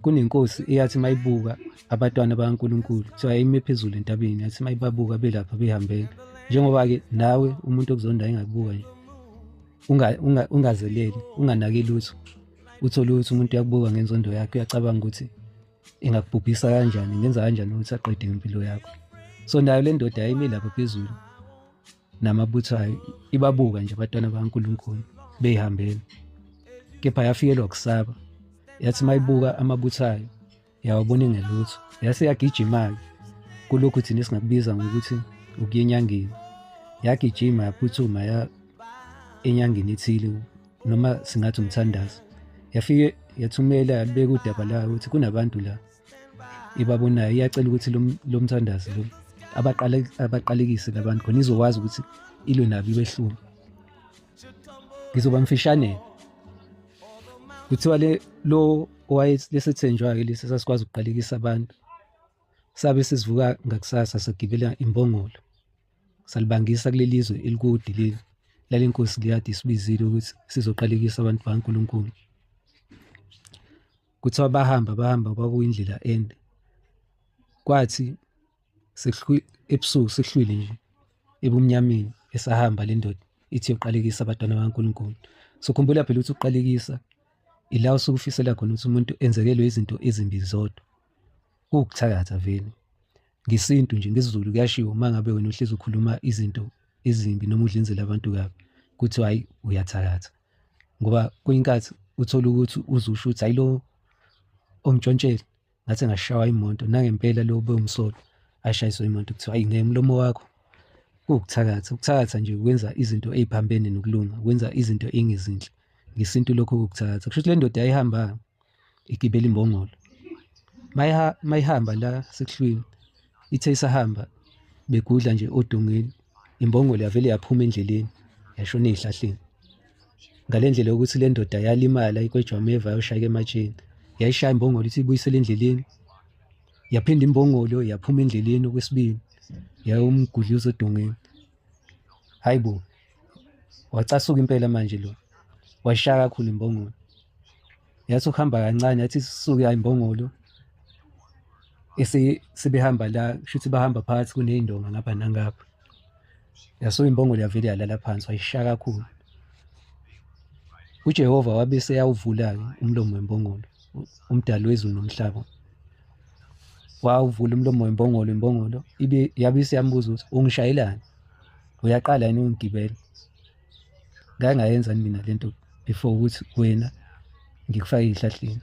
kunenkosi eyathi mayibuka abatwana bakaNkuluNkulu kuthiwa yayime phezulu entabeni yathi mayibabuka belapha behambela njengoba-ke nawe umuntu okuzonda engakubuka nje ungazeleli unganaki lutho uthole ukuthi umuntu uyakubuka ngenzondo yakhe uyacabanga ukuthi ingakubhubhisa kanjani ngenza kanjani ukuthi aqede ngempilo yakho so nayo le ndoda yayime lapha phezulu namabutho ayo ibabuka nje abatwana bakaNkulunkulu beyihambela kepha yafikelwa kusaba yathi mayibuka amabutho ayo yawabona engelutho yase yagijima-ke kulokhu thina esingakubiza ngokuthi ukuya enyangeni yagijima yaphuthuma ya enyangeni ethile noma singathi umthandazo yafike yathumela yalibeka udaba layo ukuthi kunabantu la ibabonayo iyacela ukuthi lo mthandazi lo abaqalekise labantu khona izokwazi ukuthi ilwe nabo ibehlule ngizoba mfishane kuthiwa le lo owayesethenjwa-ke lesi sasikwazi ukuqalekisa abantu sabe sesivuka ngakusasa sagibela imbongolo salibangisa kuleli zwe elikudi leli lale nkosi liyade isibizile ukuthi sizoqalekisa abantu bankulunkulu kuthiwa bahamba bahamba kwakuyindlela ende kwathi ebusuku sihlwile nje ebumnyameni esahamba le ndoda ithi yoqalekisa abantwana bakaNkulunkulu sokhumbula phela ukuthi uqalekisa ila usuke ufisela khona ukuthi umuntu enzekelwe izinto ezimbi zodwa kuwukuthakatha vele ngesintu nje ngesizulu kuyashiwo uma ngabe wena uhlezi ukhuluma izinto ezimbi noma udlinzela abantu kabi kuthiwa hhayi uyathakatha ngoba kuyinkathi uthola ukuthi uzusho ukuthi ayilo omtshontsheli ngathi ngashawa imoto nangempela lo bewumsolo ashayiswe imoto kuthiwa ayi ngemlomo wakho kuwukuthakatha ukuthakatha nje ukwenza izinto eziphambene nokulunga ukwenza izinto engezinhle ngesintu lokho kukuthakatha kusho ukuthi le ndoda yayihambanga igibela imbongolo mayihamba la sekuhlwini ithe isahamba begudla nje odongeni imbongolo yavele yaphuma endleleni yashona ey'hlahleni ngale ndlela yokuthi le ndoda yalimala ikwejwameva yayoshayeka ematsheni yayishaya imbongolo ithi ibuyisele endleleni yaphinda imbongolo yaphuma endleleni okwesibili yayomgudluza odongeni Hayibo. Wacasuka impela manje lo. Wayishaya kakhulu imbongolo. Yathi ukuhamba kancane yathi sisuke ayimbongolo. Ese sebehamba la shuthi bahamba phakathi kunezindonga ngapha nangapha. Yasuka imbongolo yavele yalala phansi wayishaya kakhulu. UJehova wabe seyawuvula-ke umlomo wembongolo. umdali wezulu nomhlaba wawuvula umlomo wembongolo imbongolo ibe yabe isiyambuza ukuthi ungishayelani uyaqala yini ungigibela ngangayenzani mina lento before ukuthi wena ngikufake ihlahleni